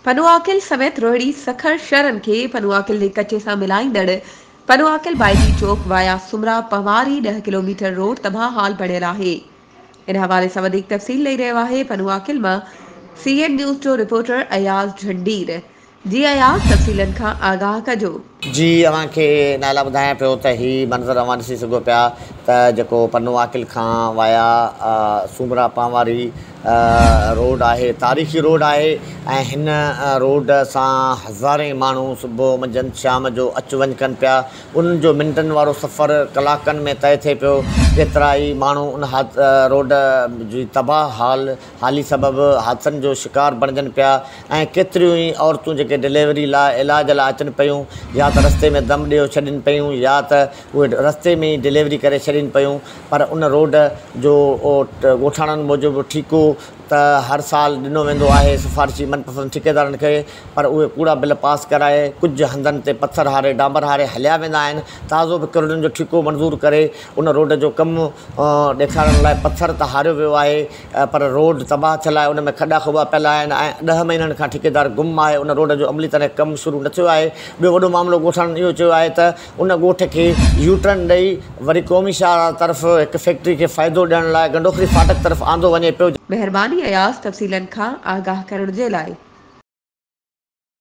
پنوعاقل سميت روهڙي سکر شھرن کي پنوعاقل جي ڪچي سان ملائيندڙ پنوعاقل بائيجي چوڪ وايا سومرا پنواري ڏهه ڪلوميٽر روڊ تباھ حال بڻيل آهي ان حوالي سان وڌيڪ تفصيل ڏئي رهيو آهي پنوعاقل مان سي اين نيوز جو رپورٽر اياز جھنڊير جي اياز تفصيلن کان آگاھ ڪجو. جي اوهان کي نالا ٻڌايان پيو ته هي منظر اوهان ڏسي سگهو پيا ته جيڪو پنو عاقل کان وايا سومرا پان واري روڊ آهي تاريخي روڊ آهي ۽ هن روڊ سان هزارين ماڻهو صبح منجهند شام جو اچ وڃ ڪن پيا انهن جو منٽن وارو سفر ڪلاڪن ۾ طئي ٿئي پيو ڪيترائي ماڻهو ان روڊ جي تباهه حال هالي سبب حادثن جو شڪار بڻجن پيا ۽ ڪيتريون ئي عورتون جيڪي ڊليوري لاء علاج لاء اچن پيون يا ته رستي ۾ دم ڏيو ڇڏين پيون يا ته اهي رستي ۾ ئي ڊليوري ڪري ڇڏين پيون پر ان روڊ جو ڳوٺاڻن موجب ٺيڪو ته هر سال ڏنو ويندو آهي سفارشي من پسند ٺيڪيدارن کي پر اهي ڪوڙا بل پاس ڪرائي ڪجهه هنڌن تي پٿر هاري ڊامبر هاري هليا ويندا آهن تازو به ڪروڙين جو ٺيڪو منظور ڪري ان روڊ جو ڪم ڏيکارڻ لاء پٿر ته هاريو ويو آهي پر روڊ تباهه ٿيل آهي، ان ۾ کڏا کوٻا پيل آهن ۽ ڏهه مهينن کان ٺيڪيدار گم آهي، ان روڊ جو عملي طرح ڪم شروع نه ٿيو آهي، ٻيو وڏو معاملو ڳوٺاڻن اهو چيو آهي ته ان ڳوٺ کي يو ٽرن ڏئي وري قومي شاهراهه طرف هڪ فيڪٽري کي فائدو ڏيڻ لاء گنڊوخري فاٽڪ طرف آندو وڃي پيو. مهرباني اياز تفصيلن کان آگاهه ڪرڻ جي لاء.